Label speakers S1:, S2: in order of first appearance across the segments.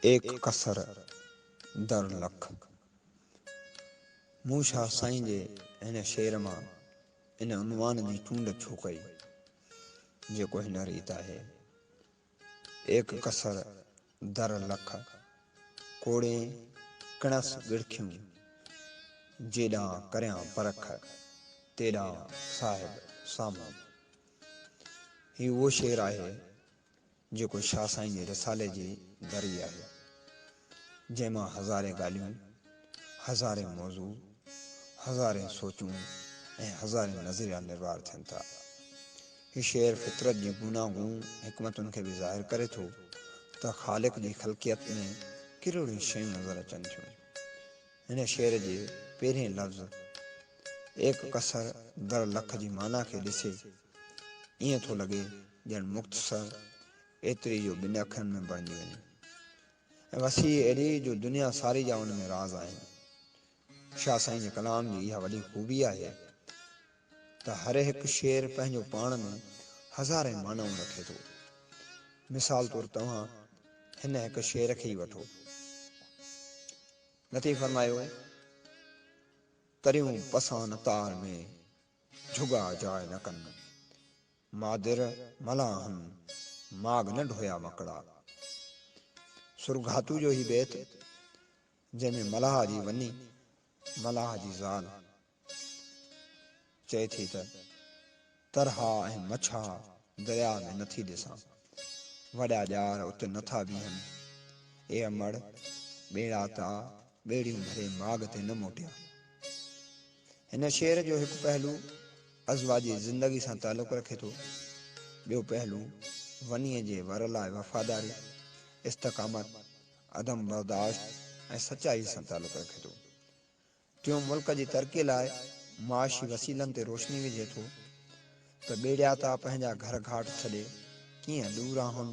S1: ايڪ قصر در لک. مون شاهه سائين جي هن شعر مان ان عنوان جي چونڊ ڇو ڪئي، جيڪو هن ريت آهي. ايڪ قصر در لک، ڪوڙين ڪڻس ڳڙکيون، جيڏانهن ڪريان پرک، تيڏانهن صاحب سامهون. هي اهو شعر آهي، جيڪو شاهه سائين جي رسالي جي دري آهي، جنهن مان هزارين ڳالهيون، هزارين موضوع، هزارين سوچون ۽ هزارين نظريا نروار ٿين ٿا. هي شعر فطرت جي گوناگون حڪمتن کي به ظاهر ڪري ٿو ته خالق جي خلقيت ۾ ڪهڙوڙيون شيون نظر اچن ٿيون. هن شعر جي پهرين لفظ ايڪ ڪثر در لک جي معنيٰ کي ڏسي، ائين ٿو لڳي ڄڻ مختصر ايتري جو ٻن اکرن ۾ بڻجي وڃي ۽ وسيع ايڏي جو دنيا ساري جا ان ۾ راز آهن. شاهه سائين جي ڪلام جي اها وڏي خوبي آهي ته هر هڪ شعر پنهنجو پاڻ ۾ هزارين معنائون رکي ٿو. مثال طور توهان هن هڪ شعر کي ئي وٺو. لطيف فرمايو، تريون پسان تار ۾، جھڳا جاء نه ڪن مادر ملاحن ماڳ نه ڍويا مڪڙا. سرگھاتو جو هي بيت جنهن ۾ ملاح جي وني ملاح جي زال چئي ٿي ته، ترها ۽ مڇا درياء ۾ نه ٿي ڏسان، وڏا ڄار ات نه ٿا بيهن، اي امڙ ٻيڙا تا ٻيڙيون ڀري ماڳ تي نه موٽيا. هن شعر جو هڪ پهلو عزوه جي زندگي سان تعلق رکي ٿو، ٻيو پهلو ونيء جي ور لاء وفاداري، استقامت، عدم برداشت ۽ سچائيء سان تعلق رکي ٿو. ٽيون ملڪ جي ترقيء لاء معاشي وسيلن تي روشني وجهي ٿو ته ٻيڙياتا پنهنجا گهر گهاٽ ڇڏي ڪيئن ڏوراهن،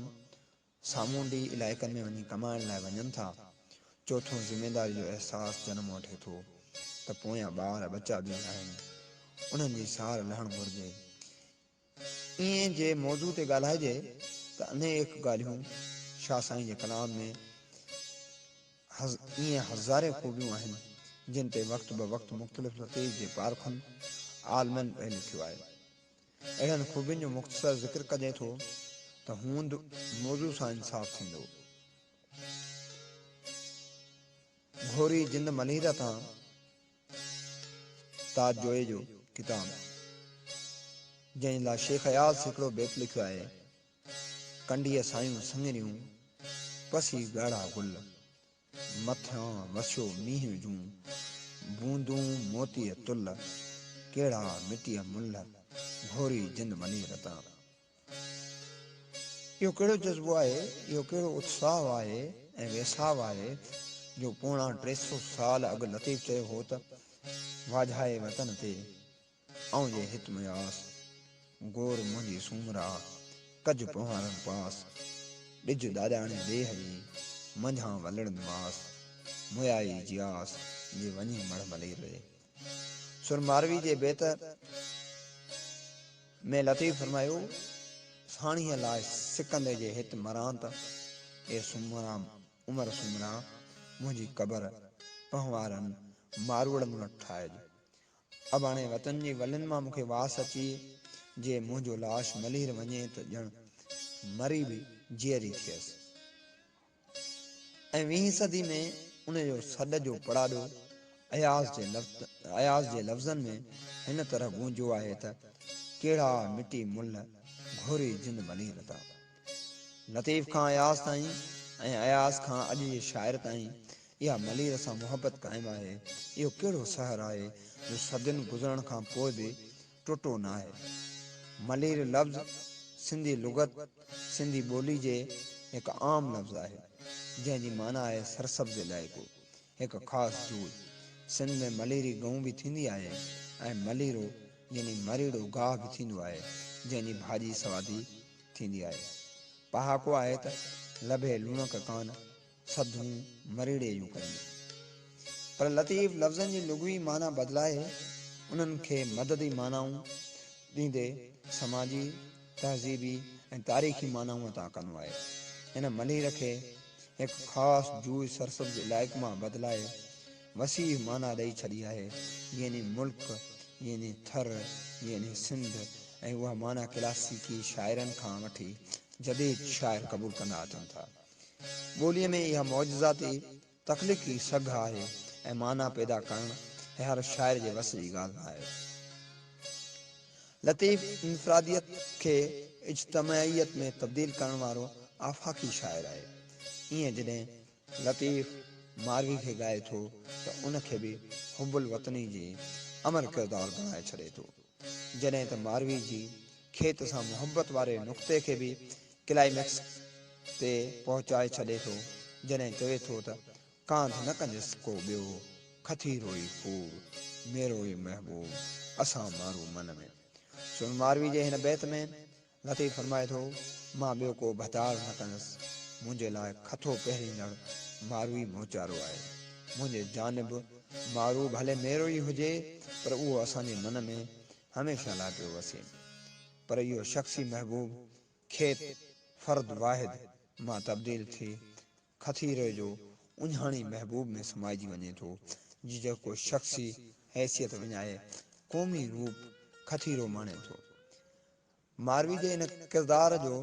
S1: سامونڊي علائقن ۾ وڃي ڪمائڻ لاء وڃن ٿا. چوٿون ذميداري جو احساس جنم وٺي ٿو ته پويان ٻار ٻچا به آهن انهن جي سار لهڻ گهرجي. ايئن جي موضوع تي ڳالهائجي ته انيڪ ڳالهيون شاهه سائين جي ڪلام ۾ ايئن هزارين خوبيون آهن جن تي وقت بوقت مختلف لطيف جي پارکن عالمن به لکيو آهي. اهڙن خوبين جو مختصر ذڪر ڪجي ٿو ته هوند موضوع سان انصاف ٿيندو. گهوري جند مليره تان تاج جويي جو ڪتاب جنهن لاء شيخ اياز هڪڙو بيت لکيو آهي، ڪنڊيء سايون سڱريون، پسي ڳاڙها گل. مٿيان وسيو مينهن جون بوندون موتيء تل، ڪهڙا مٽيء ملهه گهوري جن وڃي رتان. اهو ڪهڙو جذبو آهي، اهو ڪهڙو اتساهه آهي ۽ ويساهه آهي، جو پوڻا ٽي سؤ سال اڳ لطيف چيو هو ته، واجهائي وطن تي، آئون جي هت ۾ آس، گور منهنجي سومرا، ڪج پنهارن پاس، ڏج ڏاڏاڻي ڏيهه جي، منجهان ولڙن ماس، مويائي جي آس، جي وڃي مڙهه ملير ري. سر ماروي جي بيت ۾ لطيف فرمايو، ساڻيهه لاء سڪندي جي هت مران ته، اي سومرا عمر سومرا، منهنجي قبر پنهوارن ماروئڙن وٽ ٺاهج. اباڻي وطن جي ولين مان مون کي واس اچي جي منهنجو لاش ملير وڃي ته ڄڻ مري به جيئري ٿئيس ۽ ويهين صدي ۾ ان جو سڏ جو پڙاڏو اياز جي اياز جي لفظن ۾ هن طرح گونجيو آهي ته ڪهڙا مٽي ملهه گهوري جن ملير تا. لطيف کان اياز تائين ۽ اياز کان اڄ جي شاعر تائين اها ملير سان محبت قائم آهي. اهو ڪهڙو سحر آهي جو صدين گذرڻ کان پوء به ٽٽو ناهي. ملير لفظ سنڌي لغت، سنڌي ٻولي جي هڪ عام لفظ آهي، جنهن جي معنيٰ آهي سرسبز علائقو. هڪ خاص جوء سنڌ ۾ مليري گئون به ٿيندي آهي ۽ مليرو يعني مريڙو گاهه به ٿيندو آهي جنهن جي ڀاڄي سوادي ٿيندي آهي. پهاڪو آهي ته لڀي لوڻڪ ڪان سڌون مريڙي جون ڪريون. پر لطيف لفظن جي لغوي معنيٰ بدلائي انهن کي مددي معنائون ڏيندي سماجي، تهذيبي ۽ تاريخي معنائون عطا ڪندو آهي. هن ملير کي هڪ خاص جوئي سرسبز علائق مان بدلائي وسيع معنيٰ ڏئي ڇڏي آهي، يعني ملڪ، يعني ٿر، يعني سنڌ ۽ اها معنيٰ ڪلاسيڪي شاعرن کان وٺي جديد شاعر قبول ڪندا اچن ٿا. ٻوليء ۾ اها معجزاتي تخليق ئي سگهه آهي ۽ معنيٰ پيدا ڪرڻ هر شاعر جي وس جي ڳالهه نه آهي. لطيف انفراديت کي اجتماعيت ۾ تبديل ڪرڻ وارو آفاقي شاعر آهي. ايئن جڏهن لطيف ماروي کي ڳائي ٿو ته ان کي به حب الوطني جي امر ڪردار بڻائي ڇڏي ٿو. جڏهن ته ماروي جي کيت سان محبت واري نقطي کي به ڪلائيمڪس تي پهچائي ڇڏي ٿو جڏهن چوي ٿو ته ڪانڌ نه ڪنجس ڪو ٻيو کٿيروئي ڦول ميروئي محبوب اسان مارو من ۾. سون ماروي جي هن بيت ۾ لطيف فرمائي ٿو، مان ٻيو ڪو ڀتار نه ڪندس، منهنجي لاء کٿو پهريندڙ مارو ئي موچارو آهي. منهنجي جانب مارو ڀلي ميرو ئي هجي پر اهو اسان جي من ۾ هميشه لاء پيو وسي. پر اهو شخصي محبوب کيپ، فرد واحد، مان تبديل ٿي کٿيري جو اڃاڻي محبوب ۾ سمائجي وڃي ٿو، جيڪو شخصي حيثيت وڃائي قومي روپ کٿيرو ماڻي ٿو. ماروي جي ان ڪردار جو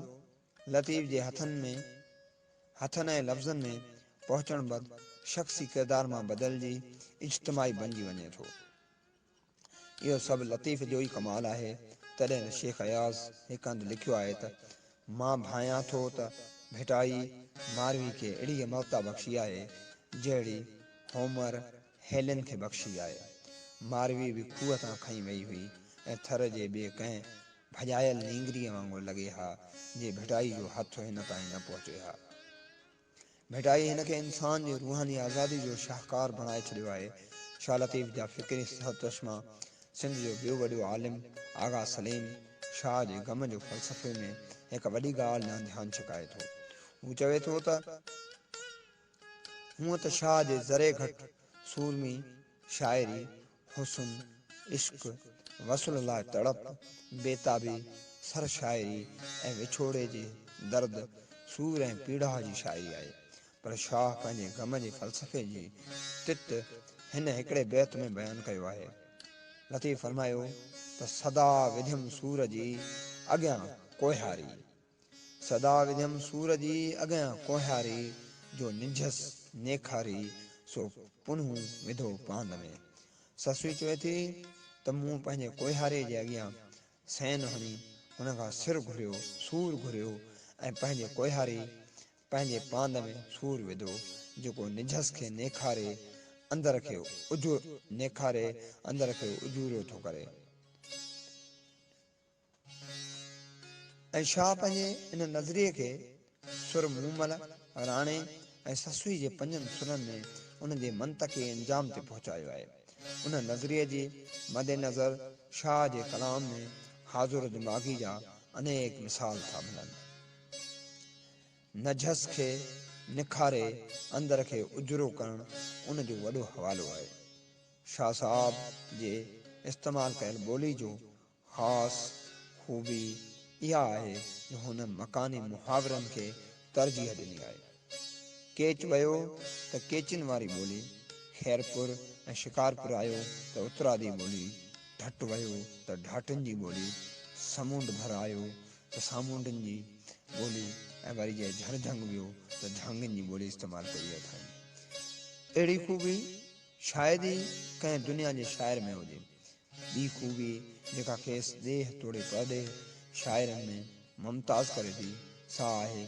S1: لطيف جي هٿن ۾ هٿن ۽ لفظن ۾ پهچڻ بعد شخصي ڪردار مان بدلجي اجتماعي بنجي وڃي ٿو. اهو سڀ لطيف جو ئي ڪمال آهي. تڏهن به شيخ اياز هڪ هنڌ لکيو آهي ته، مان ڀانئيان ٿو ته ڀٽائي ماروي کي اهڙي امرتا بخشي آهي، جهڙي هومر هيلن کي بخشي آهي. ماروي به کوهه تان کنئي وئي هئي ۽ ٿر جي ٻي ڪنهن ڀڄايل نينگريء وانگر لڳي ها، جي ڀٽائي جو هٿ هن تائين نه پهچي ها. ڀٽائي هن کي انسان جي روحاني آزادي جو شاهڪار بڻائي ڇڏيو آهي. شاهه لطيف جا فڪري سرچشما، سنڌ جو ٻيو وڏو عالم آغا سليم، شاهه جي غم جو فلسفي ۾ هڪ وڏي ڳالهه ڏانهن ڌيان ڇڪائي ٿو. هو چوي ٿو ته، هونء ته شاهه جي ذري گهٽ سورمي شاعري حسن، عشق، وصل لاء تڙپ، بيتابي، سر شاعري ۽ وڇوڙي جي درد، سور ۽ پيڙاهه جي شاعري آهي. پر شاهه پنهنجي غم جي فلسفي جي تت هن هڪڙي بيت ۾ بيان ڪيو آهي. لطيف فرمايو ته سدا وڌيم سور جي اڳيان ڪوهياري. صدا وڌيم سور جي اڳيان ڪوهياري، جو ننجهس نيکاري سو پنهون وڌو پاند ۾. سسئي چوي ٿي ته مون پنهنجي ڪوهياري جي اڳيان سين هڻي هن کان سر گهريو، سور گهريو ۽ پنهنجي ڪوهياري پنهنجي پاند ۾ سور وڌو، جيڪو ننجهس کي نيکاري اندر کي اجورو ٿو ڪري. ۽ شاهه پنهنجي ان نظريي کي سر مومل، راڻي ۽ سسئي جي پنجن سرن ۾ ان جي منطقي انجام تي پهچايو آهي. ان نظريي جي مد نظر شاهه جي ڪلام ۾ حاضر دماغي جا انيڪ مثال ٿا ملن. نجهس کي نکاري اندر کي اجرو ڪرڻ ان جو وڏو حوالو آهي. شاهه صاحب جي استعمال ڪيل ٻولي جو خاص خوبي اها آهي جو هن مڪاني محاورن کي ترجيح ڏني آهي. ڪيچ ويو ته ڪيچين واري ٻولي، خيرپور ۽ شڪارپور آيو ته اترادي ٻولي، ڍٽ ويو ته ڍاٽن جي ٻولي، سمونڊ ڀر آيو ته سامونڊن جي ٻولي ۽ وري جي جهرجهنگ ويو ته جهانگين جي ٻولي استعمال ڪئي اٿائين. اهڙي خوبي شايد ئي ڪنهن دنيا جي شاعر ۾ هجي. ٻي خوبي جيڪا کيس ڏيهه توڙي پرڏيهه شاعرن ۾ ممتاز ڪري ٿي سا آهي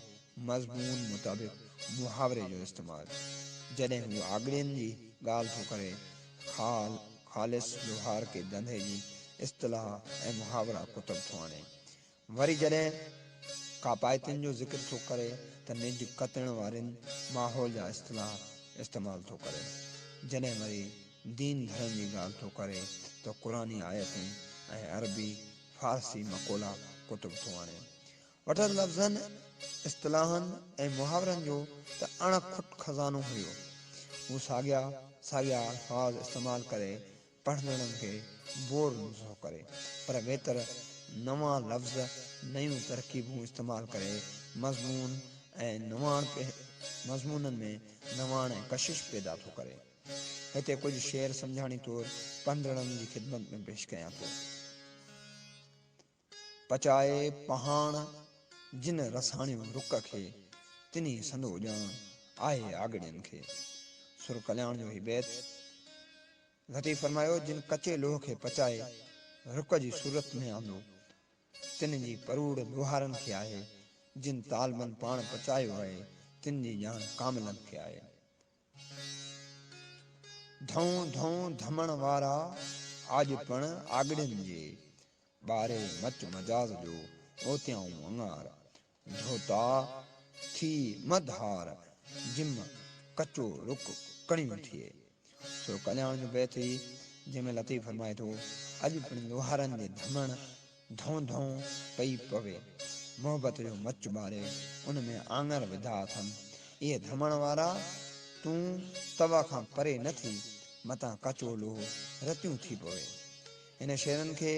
S1: مضمون مطابق محاوري جو استعمال. جڏهن هو آڳڙين جي ڳالهه ٿو ڪري خال، خالص لوهار ڪي دنڌي جي اصطلاح ۽ محاورا ڪتب ٿو آڻي. وري جڏهن ڪاپائتين جو ذڪر ٿو ڪري ته نج ڪتڻ وارين ماحول جا اصطلاح استعمال ٿو ڪري، جڏهن وري دين ڌرم جي ڳالهه ٿو ڪري ته قرآني آيتون ۽ عربي فارسي مقولا ڪتب ٿو آڻي. وٽس لفظن، اصطلاحن ۽ محاورن جو ته اڻ کٽ خزانو هيو. هو ساڳيا ساڳيا الفاظ استعمال ڪري پڙهندڙن کي بور نه ٿو ڪري پر ويتر نوان لفظ، نيون ترڪيبون استعمال ڪري مضمون ۽ نواڻ مضمونن ۾ نواڻ ۽ ڪشش پيدا ٿو ڪري. هتي ڪجهه شعر سمجهاڻي طور پڙهندڙن جي خدمت ۾ پيش ڪيان ٿو. پچائي پهاڻ جن رساڻيو رڪ کي، تنهي سندو ڄاڻ آهي آڳڙين کي. سر ڪلياڻ جو هي بيت لطيف فرمايو، جن ڪچي لوهه کي پچائي رڪ جي صورت ۾ آندو، تن جي پروڙ لوهارن کي آهي، جن طالبن پاڻ پچايو آهي، تن جي ڄاڻ ڪاملن کي آهي. ڌون ڌون ڌمڻ وارا آڄ پڻ آڳڙين جي ٻاري مچ مجاز جو اوتيائون مڱار ڌوتا ٿي مد ھار جم ڪچو رڪ ڪڻيون ٿئي سو ڪلياڻ جو بيت ھي جنھن ۾ لطيف فرمائي ٿو اڄ پڻ لوھارن جي ڌمڻ ڌون ڌون پئي پوي. محبت جو مچ ٻاري ان ۾ آڱر وڌا اٿم. اي ڌمڻ وارا! تون توا کان پري نه ٿي، متان ڪچو لوهه رتيون ٿي پوي. هن شعرن کي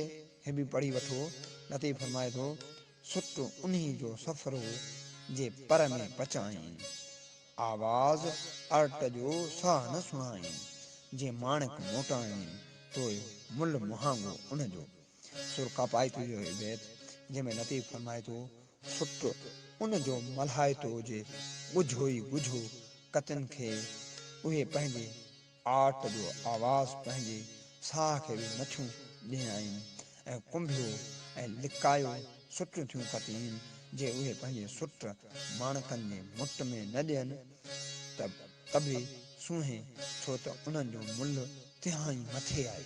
S1: هي به پڙهي وٺو. لطيف فرمائي ٿو، سٽ انهي جو سفرو، جي پر ۾ پچائين. آواز ارٽ جو ساهه نه سڻائين، جي ماڻڪ موٽائين. توء ملهه مهانگو ان جو، سر ڪاپائتو جو هي بيت، جنهن ۾ لطيف فرمائي ٿو، سٽ ان جو ملهائتو جي ڳجهو ئي ڳجهو ڪتن کي اهي پنهنجي آٽ جو آواز پنهنجي ساهه کي به نٿيون ڏينائين ۽ ڪنڀيو ۽ لڪايو سٽيون ٿيون ڪتين جي اهي پنهنجي سٽ ماڻڪن جي مٽ ۾ نه ڏين ته تبي سونهين ڇو ته انهن جو ملهه تهائين مٿي آهي.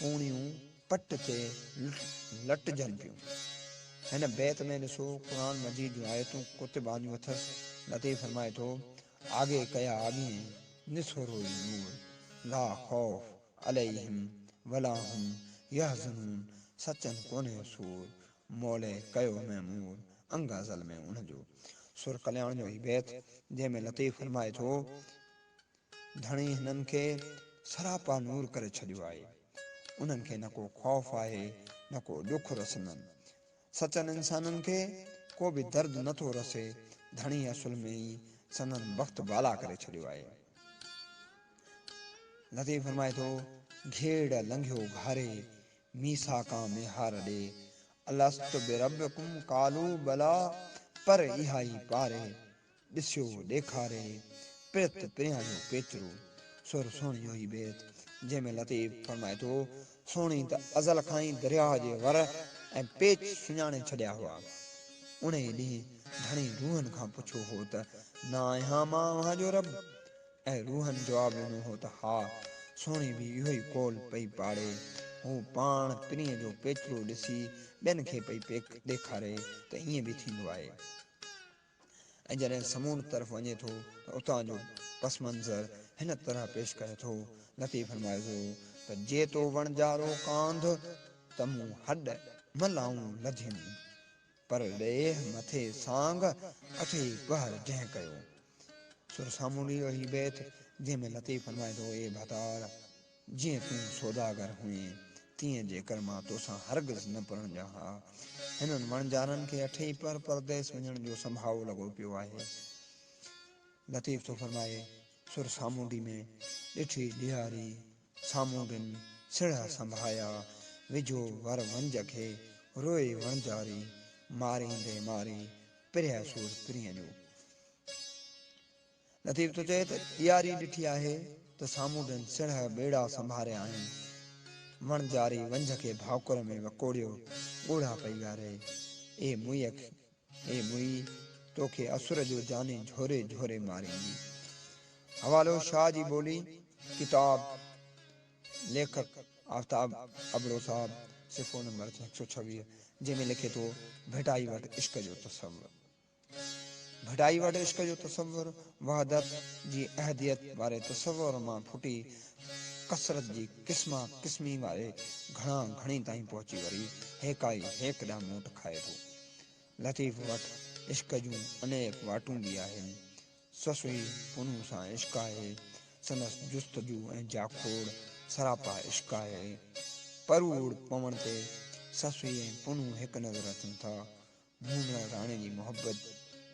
S1: پوڻيون پٽ تي لٽجن پيون. هن بيت ۾ ڏسو قرآن مجيد جون آيتون ڪتب آنديون اٿس. لطيف فرمائي ٿو، آگي ڪيا آڳين نسورو ئي نور، لا خوف عليهم ولا هم يحزنون سچن ڪونهي سور، مولي ڪيو معمور انگ ازل ۾ ان جو. سورة ڪلياڻ جو هي بيت جنهن ۾ لطيف فرمائي ٿو، ڌڻي هنن کي سراپا نور ڪري ڇڏيو آهي. انهن کي نه ڪو خوف آهي نه ڪو ڏک رسندن. سچن انسانن کي ڪو به درد نه ٿو رسي. ڌڻي اصل ۾ ئي سندن بخت بالا ڪري ڇڏيو آهي. لطيف فرمائي ٿو، گهيڙ لنگهيو گهاري، ميثاقان ميهار ڏي، الست بربڪم قالو بلا، پر اها ئي پاري، ڏسيو ڏيکاري پرت پريان جو پيچرو سر سهڻي جو هي بيت جنهن ۾ لطيف فرمائي ٿو سهڻي ته ازل کان ئي درياهه جي ور ۽ پيچ سڃاڻي ڇڏيا هئا انهيء ڏينهن ڌڻي روحن کان پڇيو هو ته نه آهيان مان اوهان جو رب ۽ روحن جواب ڏنو هو ته ها سهڻي به اهو ئي قول پئي پاڙي هو پاڻ پرينء جو پيچرو ڏسي ٻين کي پئي ڏيکاري ته ائين به ٿيندو آهي ۽ جڏهن سمونڊ طرف وڃي ٿو ته اتان جو پس منظر هن طرح پيش ڪري ٿو، نتي فرمائي ٿو ته جي تو وڻجارو ڪانڌ ته مون هڏ نه لائون لڌيم، پر ليهه مٿي سانگ اٿي پهر جنهن ڪيو. سر سامونڊيء جو هي بيت جنهن ۾ لطيف فرمائي ٿو اي ڀتار! جيئن تون سوداگر هئين، تيئن جيڪر مان توسان هرگز نه پرڻجان ها. هنن وڻجارن کي اٺيئي پهر پرديس وڃڻ جو سنڀاوو لڳو پيو آهي. لطيف ٿو فرمائي، سر سامونڊي ۾، ڏٺي ڏيهاري، سامونڊين، سڙهه سنڀايا، وجهو ور ونج کي، روئي وڻجاري، ماريندي ماري، پرهه سور پرينء جو. لطيف ٿو چوي ته ڏياري ڏٺي آهي ته سامونڊن سڻهه ٻيڙا سنڀاريا آهن. وڻجاري ونجهه کي ڀاڪر ۾ وڪوڙيو ڳوڙها پئي ڳاري. اي موئي اي موئي تو کي اسر جو جاني جهوري جهوري ماريندي. حوالو شاهه جي ٻولي ڪتاب ليکڪ آفتاب ابڙو صاحب صفحو نمبر هڪ سؤ ڇويهه جنهن ۾ لکي ٿو ڀٽائي وٽ عشق جو تصور. ڀٽائي وٽ عشق جو تصور وحدت جي احديت واري تصور مان ڦٽي ڪثرت جي قسما قسمي واري گهڻا گهڻي تائين پهچي وري هيڪائي هيڪ ڏانهن موٽ کائي ٿو. لطيف وٽ عشق جون انيڪ واٽون به آهن. سسئي پنهون سان عشق آهي. سندس جستجو ۽ جاکوڙ سراپا عشق آهي. پروڙ پوڻ تي سسئي ۽ پنهون هڪ نظر اچن ٿا. مون لاء راڻي جي محبت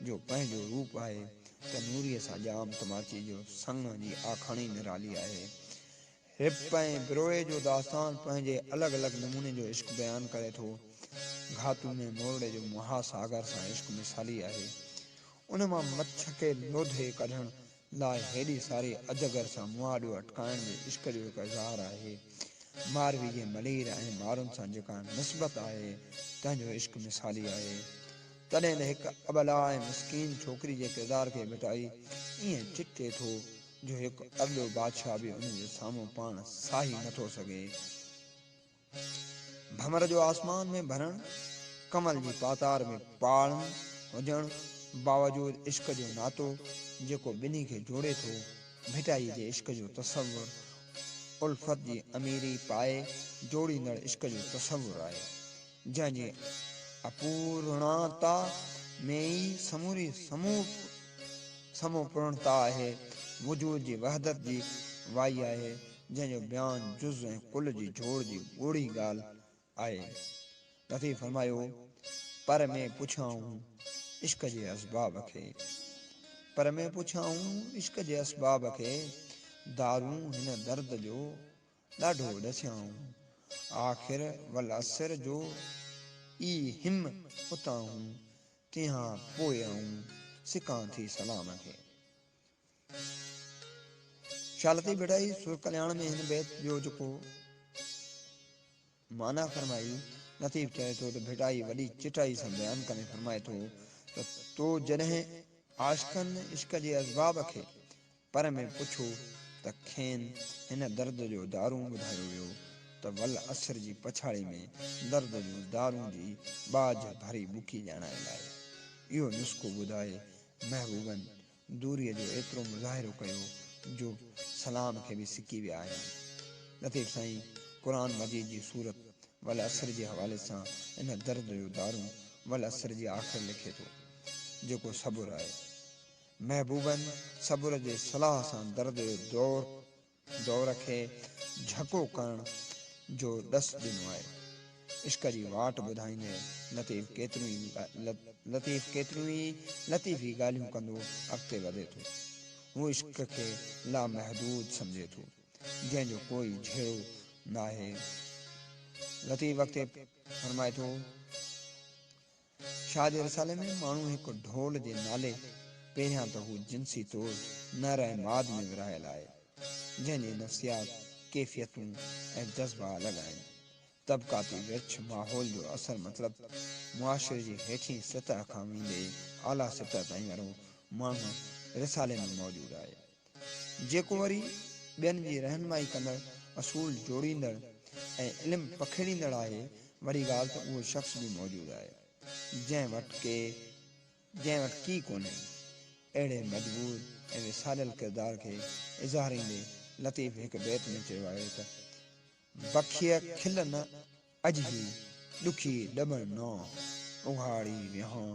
S1: جو پنهنجو روپ آهي ته نوريء سان ڄام تماچي جو سڱ جي آکاڻي نرالي آهي. رپ ۽ بروهي جو داستان پنهنجي الڳ الڳ نموني جو عشق بيان ڪري ٿو. گهاتو ۾ مورڙي جو مها ساگر سان عشق مثالي آهي. ان مان مڇ کي لوڌي ڪڍڻ لاء هيڏي ساري اجگر سان مهاڏيو اٽڪائڻ به عشق جو هڪ اظهار آهي. ماروي جي ملير ۽ مارن سان جيڪا نسبت آهي، تنهن جو عشق مثالي آهي. تڏهن ته هڪ ابلا ۽ مسڪين ڇوڪري جي ڪردار کي ڀٽائي ائين چٽي ٿو، جو هڪ ارڏو بادشاهه به ان جي سامهون پاڻ ساهي نٿو سگهي. ڀنور جو آسمان ۾ ڀرڻ، ڪنول جي پاتار ۾ پاڙن هجڻ باوجود عشق جو ناتو جيڪو ٻنهي کي جوڙي ٿو، ڀٽائي جي عشق جو تصور الفت جي اميري پائي جوڙيندڙ عشق جو تصور آهي، جنهن جي اپورڻتا ۾ ئي سموري سموپرڻتا آهي، وجود جي وحدت جي وائي آهي، جنهن جو بيان جز ۽ ڪل جي جوڙ جي ڳوڙهي ڳالهه آهي. لطيف فرمايو، پر ۾ پڇيائون عشق جي اسباب کي، پر ۾ پڇيائون عشق جي اسباب کي، دارون هن درد جو ڏاڍو ڏسيائون، آخر والعصر جو ئي هم اتائون، تنهان پوء آئون سڪان ٿي سلام کي. شاھ لطيف ڀٽائي سر ڪلياڻ ۾ هن بيت جو جيڪو معنيٰ فرمائي، لطيف چوي ٿو ته ڀٽائي وڏي چٽائي سان بيان ڪندي فرمائي ٿو ته تو جڏهن عاشقن عشق جي اسباب کي پر ۾ پڇو ته کين هن درد جو دارون ٻڌايو ويو ته ول عصر جي پڇاڙي ۾ درد جون دارون جي ٻاجهه ڀري ٻڪي ڄاڻائي لاء اهو نسخو ٻڌائي محبوبن دوريء جو ايترو مظاهرو ڪيو جو سلام کي به سڪي ويا آهيان. لطيف سائين قرآن مجيد جي سورت والعصر جي حوالي سان ان درد جو دارون والعصر جي آخر لکي ٿو جيڪو صبر آهي. محبوبن صبر جي صلاح سان درد جو دور دور کي جهڪو ڪرڻ جو ڏس ڏنو آهي. عشق جي واٽ ٻڌائيندي لطيف ڪيتريون ئي لطيف ڪيتريون ئي لطيفي ڳالهيون ڪندو اڳتي وڌي ٿو. هو عشق کي لامحدود سمجهي ٿو، جنهن جو ڪوئي جهيڙو ناهي. لطيف اڳتي فرمائي ٿو. شاهه جي رسالي ۾ ماڻهو هڪ ڍول جي نالي پهريان ته هو جنسي طور نر ۽ ماد ۾ ورهايل آهي، جنهن جي نفسيات، ڪيفيتون ۽ جذبا الڳ آهن. طبقاتي ورڇ، ماحول جو اثر مطلب معاشري جي هيٺين سطح کان ويندي اعليٰ سطح تائين وارو ماڻهو رسالي ۾ موجود آهي. جيڪو وري ٻين جي رهنمائي ڪندڙ، اصول جوڙيندڙ ۽ علم پکيڙيندڙ آهي، وڏي ڳالهه ته اهو شخص به موجود آهي، جنهن وٽ ڪي جنهن وٽ ڪي ڪونهي. اهڙي مجبور ۽ وساريل ڪردار کي اظهاريندي لطيف هڪ بيت ۾ چيو آهي ته، بکيء کل نه اجهي، ڏکي ڏٻڻ نو، اگهاڙي ويهان